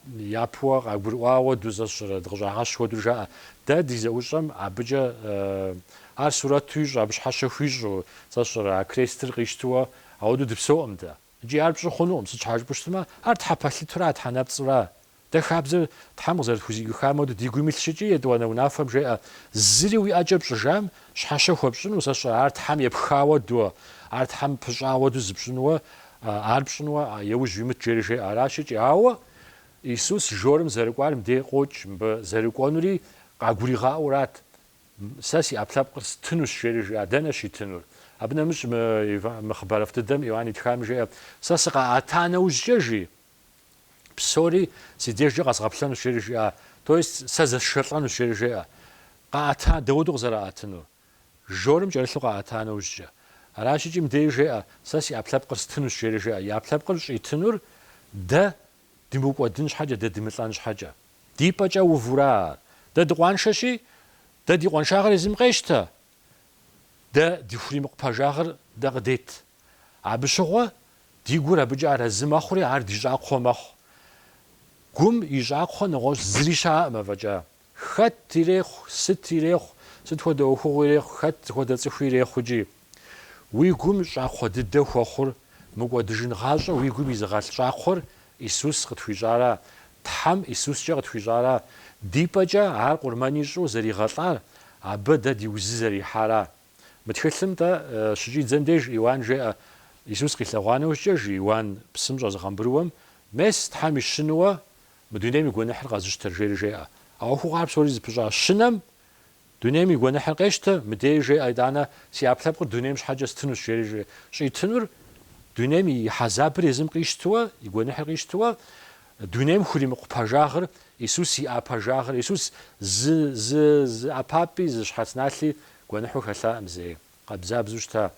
япэуэ къагурыӏуа хуэдэу, сэ сщӏэрэ, дыкъыщӏагъэщ хуэдэу жаӏэ. Дэ ди зэӏущӏэм абыкӏэ ар сурэту ищӏу, абы щхьэщэ хуищӏу, сэ сщӏэрэ, а крестыр къищтыуэ ауэдэу дыпсэуӏым дэ. Икӏи ар пщӏы хъунукъым, сыт щхьа жыпӏэу щытмэ, ар тхьэпэлъытура, тхьэнэпцӏыра? Дэ хабзэр Тхьэм къызэрытхузигыхам хуэдэу ди гум илъщ икӏи, етӏуанэ унафэм жеӏэ, Зыри уи ӏэкӏэ пщӏыжам щхьэщэ хуэпщӏыну, сэ сщӏэрэ, ар Тхьэм епха хуэдэу, ар Тхьэм пыщӏа хуэдэу зыпщӏынуэ, ар пщӏынуэ еужь уимыт жери жеӏэ. Аращ икӏи. Ауэ Исус жорым зэрыкӏуар мыдей къокӏ, мыбы зэрыкӏуэнури къагуригъаӏуэурат, Сэ си ӏэпкълъэпкъыр стынущ жери жеӏэ. Дэнэ щитынур? Абы нэмыщӏ мы хъыбарыфӏ дыдэм Иоанн итхам жеӏэ, Сэ сыкъаӏэта нэужькӏэ, жи, Псори си дежкӏэ къэзгъэплъэнущ, жери жиӏа, то есть сэ зэсшэлӏэнущ, жери жеӏэ. Къаӏэта, дауэду къызэраӏэтынур? Жорым кӏэрылъу къаӏэта нэужькӏэ. Аращ икӏи мыдеи жеӏэ, сэ си ӏэпкълъэпкъыр стынущ, жери жеӏэ. И ӏэпкълъэпкъыр щӏитынур дэ дымыукӏуэдын щхьэкӏэ, дэ дымылӏэн щхьэкӏэ. Ди пӏэкӏэ увура. Дэ дыкъуаншэщи, дэ ди къуаншагъыр езым къещтэ, дэ ди хуримыкъу пэжагъыр дэ къыдет. Абы щыгъуэ Ди гур абыкӏэ арэзы мэхъури, ар ди щӏакхъуэ мэхъу. Гум и щӏакхъуэ нэгъуэщӏ зыри щыӏэкъым афӏэкӏа. Хэт ирехъу, сыт ирехъу, сыт хуэдэ ӏуэхугъуи ирехъу, хэт хуэдэ цӏыхуи ирехъу икӏи. Уи гум щӏакхъуэ дыдэ хуэхъур, мыкӏуэдыжын гъащӏэ уи гум изыгъэлъ щӏакхъуэр Исус къытхуищӏара, Тхьэм Исускӏэ къытхуищӏара, ди пӏэкӏэ Ар къурмэн ищӏу зэригъэлӏар, Абы дэ ди узы зэрихьара. Мы тхылъым тӏэ щыкӏидзэм деж Иоанн жеӏэ, Исус къилъэгъуа нэужькӏэ, жи Иоанн псым щӏэзыгъэмбырыуэм, Мес, Тхьэм и Щынуэ, мы дунейм и гуэныхьыр къэзыщтэр, жери жеӏэ. А ӏуэхугъуэхэр псори зыпыщӏа Щынэм дунейм и гуэныхьыр къещтэ, мыдеи жеӏэ, Итӏанэ си ӏэпкълъэпкъыр дунейм щхьэкӏэ стынущ, жери жеӏэ. Щӏитынур дунейм и хьэзабыр езым къищтыуэ, и гуэныхьыр къищтыуэ, Дунейм хуримыкъу пэжагъыр Исус иӏа пэжагъыр, Исус зы зы зы ӏэпапӏи зы щхьэц налъи гуэныхьу хэлъакъым зэи, къабзабзу щыта.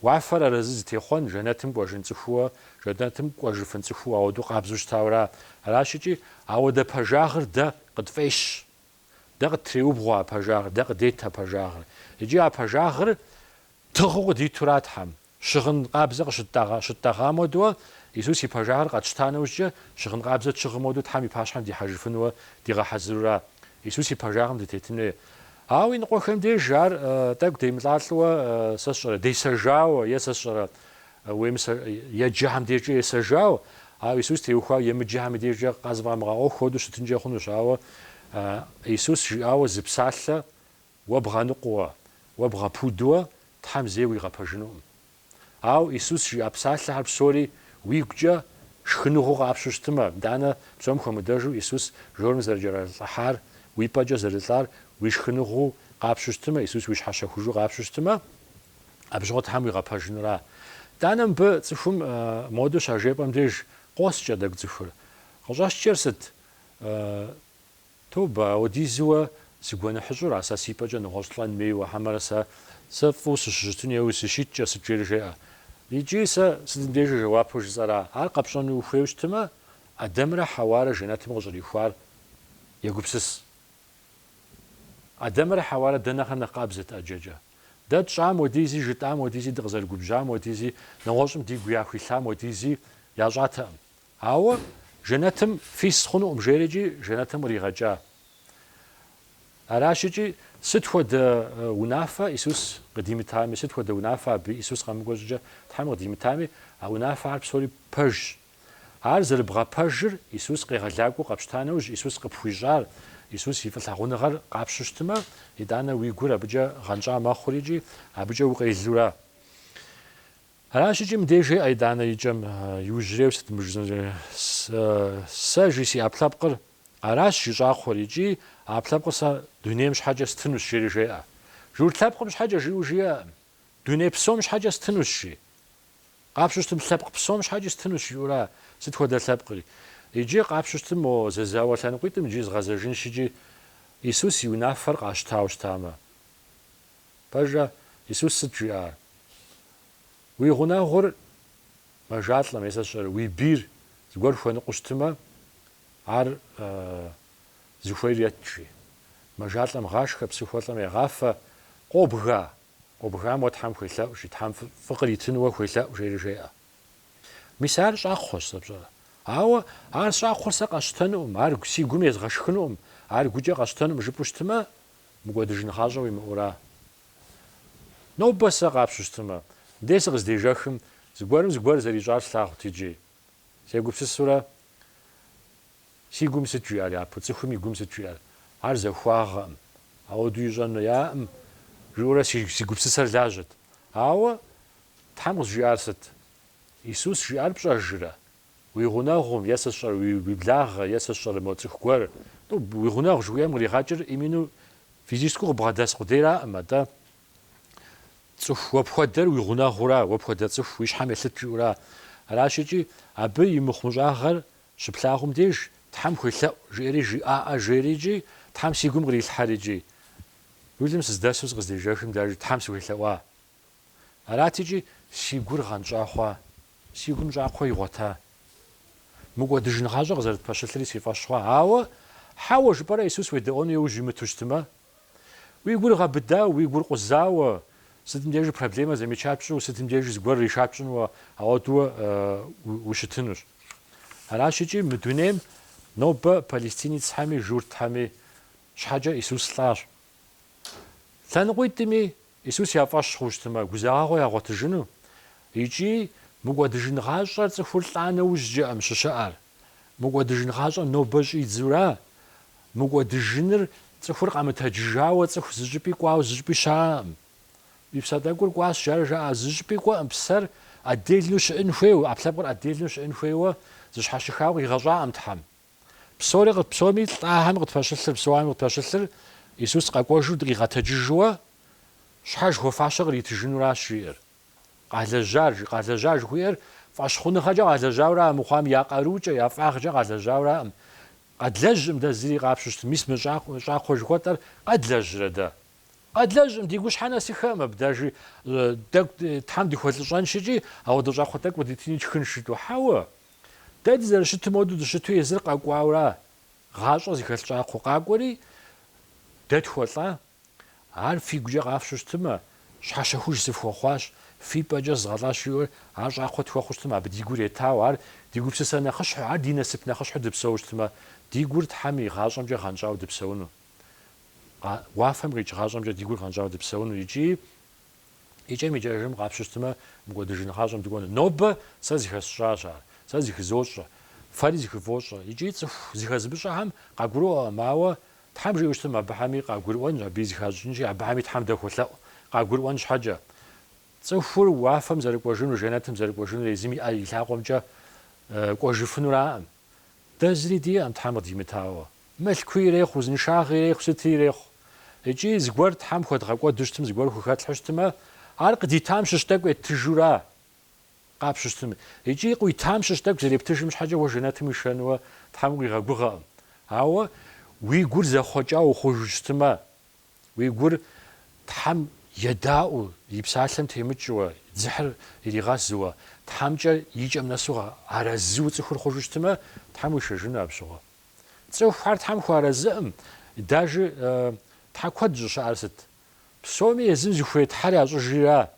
Уафэр арэзы зытехъуэн, жэнэтым кӏуэжын цӏыхууэ, жэнэтым кӏуэжыфын цӏыхууэ ауэду къабзу щытауэра. Аращ икӏи, ауэдэ пэжагъыр дэ къытфӏещ. Дэ къыттреубгъуэ а пэжагъыр, дэ къыдет а пэжагъыр. Икӏи а пэжагъыр тыгъыу къыдитура Тхьэм. Щыгъын къабзэ къытщитӏэгъам хуэдэу, Исус и пэжагъыр къэтщта нэужькӏэ, щыгъын къабзэ тщыгъым хуэдэу Тхьэм и пащхьэм дихьэжыфынуэ дигъэхьэзырура. Исус и пэжагъым дытетын хуей. Ауэ иныкъуэхэм деж ар тӏэкӏу демылӏалӏэуэ сэ сщӏэрэ, десэжауэ, е сэ сщӏэрэ, еджэхэм дежкӏэ есэжауэ, ауэ Исус теухуауэ емыджэхэм и дежкӏэ къызыфӏамыгъэӏуэху хуэдэу щытынкӏэ хъунущ. Ауэ Исус жиӏауэ зы псалъэ Уэ бгъэныкъуэуэ, уэ бгъэпудууэ Тхьэм зэи уигъэпэжынукъым. Ауэ Исус жиӏа псалъэхэр псори уигукӏэ шхыныгъуэу къапщу щытмэ, итӏанэ псом хуэмыдэжу Исус жорым зэрыкӏэралӏыхьар, уи пӏэкӏэ зэрылӏар уи шхыныгъуу къапщу щытмэ, Исус уи щхьэщэхужу къапщу щытмэ, абы щыгъуэ Тхьэм уигъэпэжынура. Итӏанэ мыбы цӏыхум модэу щажепӏэм деж къоскӏэ тӏэкӏу цӏыхур. Къыщӏэскӏэр сыт? Тобэ, ауэдизуэ сыгуэныхьыщӏура сэ си пӏэкӏэ нэгъуэщӏ лӏэн хуейуэ, хьэмэрэ сэ, сэ фӏыуэ сыщыщытын хуейуэ сыщиткӏэ, сыт жери жеӏэ. Икӏи сэ сытым дежи жэуапу жысӏэра. Ар къэпщӏэну ухуейуэ щытымэ, Адэмрэ Хьэуарэ жэнэтым къыщӏрихуар егупсыс. Адэмрэ Хьэуарэ дэ нэхърэ нэхъ къабзэт ӏэджэкӏэ. Дэ тщӏам хуэдизи, жытӏам хуэдизи, дыкъызэрыгубжьам хуэдизи, нэгъуэщӏым дигу яхуилъам хуэдизи ящӏатэкъым. Ауэ жэнэтым фис хъунукъым жери икӏи жэнэтым къригъэкӏа. Аращ икӏи сыт хуэдэ унафэ Исус къыдимытами, сыт хуэдэ унафэ абы Исус къэмыкӏуэ щӏыкӏэ Тхьэм къыдимытами, а унафэхэр псори пэжщ. Ар зэрыбгъэпэжыр Исус къегъэлакӏуэу къэпщта нэужь Исус къыпхуищӏар, Исус и фӏылъагъуныгъэр къапщу щытымэ, итӏанэ уи гур абыкӏэ гъэнщӏа мэхъури икӏи абыкӏэ укъелура. Аращ икӏи мыбдеж жеӏэ итӏанэ и кӏэм иужьреу сыт мы жысӏэр Сэ, жи си ӏэпкълъэпкъыр, аращ жи щӏакхъуэр, икӏи а ӏэпкълъэпкъыр сэ дунейм щхьэкӏэ стынущ, жери жеӏэ. Журт лъэпкъым щхьэкӏэ жиӏэу жиӏэкъым, Дуней псом щхьэкӏэ стынущ, жи. Къапщу щытым лъэпкъ псом щхьэкӏи стынущ, жиӏэура, сыт хуэдэ лъэпкъри. Иджы къапщу щытым мо зэзауэ лъэныкъуитӏым иджы згъэзэжынщ икӏи Исус и унафэр къащтауэ щытамэ. Пщӏэжрэ, Исус сыт жиӏар? Уи гъунэгъур мэжалӏэм, е сэ сщӏэрэ, уи бийр зыгуэр хуэныкъуэу щытымэ, ар зыхуейр ет, жи. Мэжалӏэм гъашхэ, псыхуэлӏэм егъафэ, къобга, къобгам уэ Тхьэм хуелъэӏу, жи, Тхьэм фӏы къритыну уэ хуелъэӏу, жери жеӏэ. Мис ар щӏакхъуэщ, сэ пщӏэрэ. Ауэ ар щӏакхъуэр сэ къэсщтэнукъым, ар си гум езгъэшхынукъым, ар гукӏэ къэсщтэнукъым жыпӏэу щытымэ, Мыкӏуэдыжын гъащӏэ уимыӏэура. Нобэ сэ къапщу щытмэ, дей сыкъыздежэхым, зыгуэрым зыгуэр зэрищӏар слъагъут иджы. Сегупсысурэ, Си гум сыт жиӏэр япэу, цӏыхум и гум сыт жиӏэр? Ар захуагъэкъым. Ауэдэу ищӏэн хуеякъым, жиӏэурэ си гупсысэр лажьэт. Ауэ Тхьэм къызжиӏар сыт? Исус жиӏар пщӏэжрэ? Уи гъунэгъум, е сэ сщӏэрэ, уи благъэ, е сэ сщӏэрэ мо цӏыху гуэр. Ну, уи гъунэгъу жыхуиӏэм къригъэкӏыр именно физическэу къыбгъэдэс къудейраӏым, атӏэ цӏыху уэ пхуэдэр уи гъунэгъура, уэ пхуэдэ цӏыху уи щхьэм елъыт жыӏэура. Аращ икӏи абы и мыхъумыщӏагъэр щыплъагъум деж, Тхьэм хуелъэӏу, жиӏэри жиӏаӏэ, жери икӏи, Тхьэм си гум кърилъхьэр икӏи. Рулым сыздэсу сыкъыздежэхым дежи Тхьэм сыхуелъэӏуа? Арат икӏи си гур гъэнщӏа хъуа? Си гум щӏакхъуэ игъуэта? Мыкӏуэдыжын гъащӏэ къызэрытпэщылъри си фӏэщ хъуа? Ауэ, хьэуэ жыпӏэрэ Исус уедэӏуэну иужь имыту щытмэ? Уи гур гъэбыдау, уи гур къузауэ, сытым дежи проблемэ замечать пщӏу, сытым дежи зыгуэр решать пщӏынуэ, ауэдууэ ущытынущ. Аращ икӏи мы дунейм нобэ палестинецхьэми журтхьэми щхьэкӏэ Исус лӏащ. Лъэныкъуитӏми Исус я фӏэщ хъуу щытымэ, гузагъэгъуэ ягъуэтыжыну икӏи Мыкӏуэдыжын гъащӏэр цӏыхур лӏа нэужькӏэкъым щыщыӏэр. Мыкӏуэдыжын гъащӏэр нобэ щӏидзура? Мыкӏуэдыжыныр цӏыхур къэмытэджыжауэ цӏыху зыщӏыпӏи кӏуауэ зыщӏыпӏи щаӏэкъым. И псэ тӏэкӏур кӏуащ, жари жаӏэ, зыщӏыпӏи кӏуэкъым, псэр отдельну щыӏын хуейуэ, ӏэпкълъэпкъыр отдельну щыӏын хуейуэ зыщхьэщыхауэ къигъэщӏакъым Тхьэм. Псори къы, псоми лӏахэми къытпэщылъыр, псоми къытпэщылъыр Исус къэкӏуэжу дыкъигъэтэджыжыуэ щхьэж хуэфащэ къритыжынуращ жиӏэр. Къалэжьар, жи, къалэжьа жыхуиӏэр фӏэщхъуныгъэкӏэ къалэжьауэра а мыхъуам я къарукӏэ, я фӏагъкӏэ къалэжьауэраӏым. Къэдлэжьӏым дэ зыри къапщу щытым, мис мы щӏа, щӏакхъуэ жыхуэтӏэр къэдлэжьрэ дэ? Къэдлэжьӏым, ди гущхьэ нэсыхэӏым, абдежи, тӏэкӏу Тхьэм дыхуэлӏыщӏэнщ икӏи, ауэдэ щӏакхъуэ тӏэкӏу къыдитыни тшхынщ жытӏу. Хьэуэ, Дэ дызэрыщытым хуэдэу дыщыту езыр къэкӏуауэра, гъащӏэ зыхэлъ щӏакхъуэ къакӏуэри, дэ тхуэлӏа? Ар фигукӏэ къафщу щытымэ, щхьэщэхуж сыфхуэхъуащ, фи пӏэкӏэ зызгъэлӏащ жиӏэу ар щӏакхъуэ тхуэхъуу щытмэ, абы ди гур етауэ, ар ди гупсысэ нэхъыщхьэу, ар ди насып нэхъыщхьэу дыпсэуу щытмэ, ди гур Тхьэм и гъащӏэмкӏэ гъэнщӏауэ дыпсэуну, уафэм къикӏ гъащӏэмкӏэ ди гур гъэнщӏауэ дыпсэуну икӏи Икӏэм-икӏэжым къапщу щытмэ, мыкӏуэдыжын гъащӏэм дыкӏуэну. Нобэ сэ зыхэсщӏащ ар, сэ зыхызощӏэ, фэри зыхывощӏэ икӏи цӏыху зыхэзымыщӏэхэм къагурыӏуэкъым, ауэ Тхьэм жиӏэу щытым абыхэми къагурыӏуэнщ, абыи зыхащӏыкӏынщи, абыхэми Тхьэм дахуолъэӏу, къагурыӏуэн щхьэкӏэ. Цӏыхур уафэм зэрыкӏуэжынур, жэнэтым зэрыкӏуэжынури, езым и ӏэ и лъакъуэмкӏэ кӏуэжыфынураӏым. Дэ зыри диӏэм Тхьэм къыдимытауэ. Мылъкуи ирехъу, узыншагъи ирехъу, сыти ирехъу. Икӏи зыгуэр Тхьэм хуэдгъэкӏуэду щытым, зыгуэр хухэтлъхьэу щытымэ, ар къыдитам щыщ тӏэкӏу еттыжура? Къапщу щытым. Икӏи къуитам щыщ тӏэкӏу зэрептыжым щхьэкӏэ уэ жэнэтым уишэнуэ Тхьэм укъигъэгугъэкъым. Ауэ уи гур зэхъуэкӏау ухъужу щытымэ. Уи гур Тхьэм едаӏуэу, и псалъэм темыкӏыуэ, дзыхьыр иригъэзыуэ, Тхьэмкӏэ и кӏэм нэсу арэзыу цӏыхур хъужу щытмэ, Тхьэм уишэжыну абщыгъуэ. Цӏыхухэр Тхьэм хуэарэзыӏым, дажи Тхьэ куэд щӏыщыӏэр сыт? Псоми езым зыхуей Тхьэр ящӏыжри ара?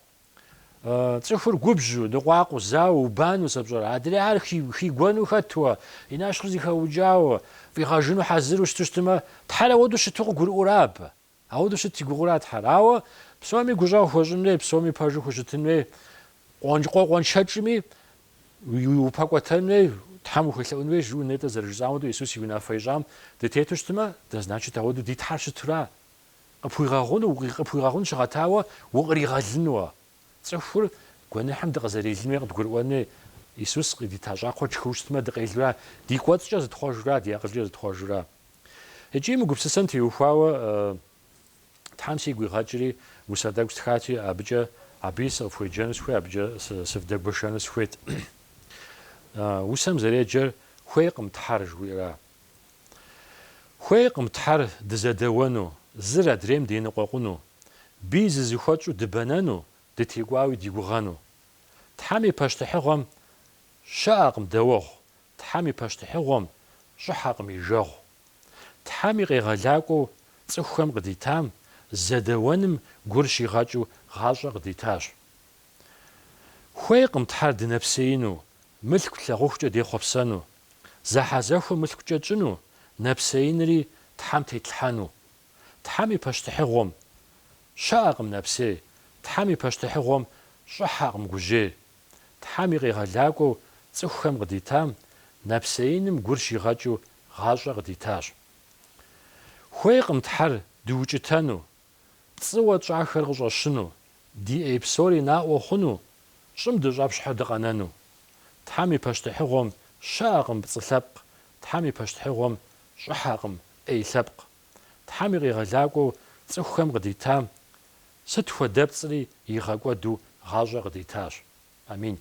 Цӏыхур губжьу, ныкъуакъыу, зауэ, убанэу сэ пщӏэрэ? Адрейхэр хигуэну хэтуэ, и нэщхъыр зыхэукӏауэ, фӏигъэжыну хьэзыру щыту щытмэ, Тхьэр ауэдэу щыту къыгурыӏура абы? Ауэдэу щыт и гугъура Тхьэр? Ауэ псоми гущӏэгъу хуэщӏын хуей, псоми пэжу хущытын хуей, къуэнш къуэншэкӏми упэкӏуэтэн хуей, Тхьэм ухуелъэӏун хуей жиӏэу нетӏэ зэрыжысӏам хуэдэу Иисус и унафэ ищӏам дытету щытмэ, дэ, значит, ауэдэу ди Тхьэр щытура? Къыпхуигъэгъуну, къыпхуигъэгъун щыгъэтауэ укъригъэлыну. Цӏыхур гуэныхьым дыкъызэрелын хуей къыдгурыӏуэн хуей Исус къыдита щӏакхъуэр тшхыу щытмэ, дыкъелура, ди кӏуэцӏкӏэ зытхъуэжура, ди акъылкӏэ зытхъуэжура. Икӏи мы гупсысэм теухуауэ Тхьэм сигу игъэкӏри, усэ тӏэкӏу стхати, абыкӏэ абы сыкъыфхуеджэну сыхуей, абыкӏэ сывдэгуэшэну сыхуейт. Усэм зэреджэр хуейкъым Тхьэр жыхуиӏэра? Хуейкъым Тхьэр дызэдэуэну, зыр адрейм деныкъуэкъуну, бий зызыхуэтщӏу дыбэнэну, дытекӏуауи ди гугъэну. Тхьэм и пащтыхьыгъуэм щыӏэкъым дэуэгъу, Тхьэм и пащтыхьыгъуэм щӏыхьэкъым и жагъу. Тхьэм и къегъэлакӏуэу цӏыхухэм къыдитам зэдэуэным гур щигъэкӏыу гъащӏэ къыдитащ. Хуейкъым Тхьэр дынэпсеину, мылъку лъагъухукӏэ дехъуэпсэну, зэхьэзэхуэ мылъкукӏэ тщӏыну, нэпсеинри Тхьэм тетлъхьэну. Тхьэм и пащтыхьыгъуэм щыӏэкъым нэпсей, Тхьэм и пащтыхьыгъуэм щӏыхьэкъым гужьей. Тхьэм и къегъэлакӏуэу цӏыхухэм къыдитам нэпсеиным гур щигъэкӏыу гъащӏэ къыдитащ. Хуейкъым Тхьэр дыукӏытэну, пцӏыуэ тщӏахэр къыщӏэщыну, ди ӏей псори наӏуэ хъуну, щӏым дыщӏэпщхьэу дыкъэнэну. Тхьэм и пащтыхьыгъуэм щыӏэкъым пцӏы лъэпкъ, Тхьэм и пащтыхьыгъуэм щӏыхьэкъым ӏей лъэпкъ. Тхьэм и къегъэлакӏуэу цӏыхухэм къыдитам сыт хуэдэ пцӏри игъэкӏуэду гъащӏэ къыдитащ. Амин.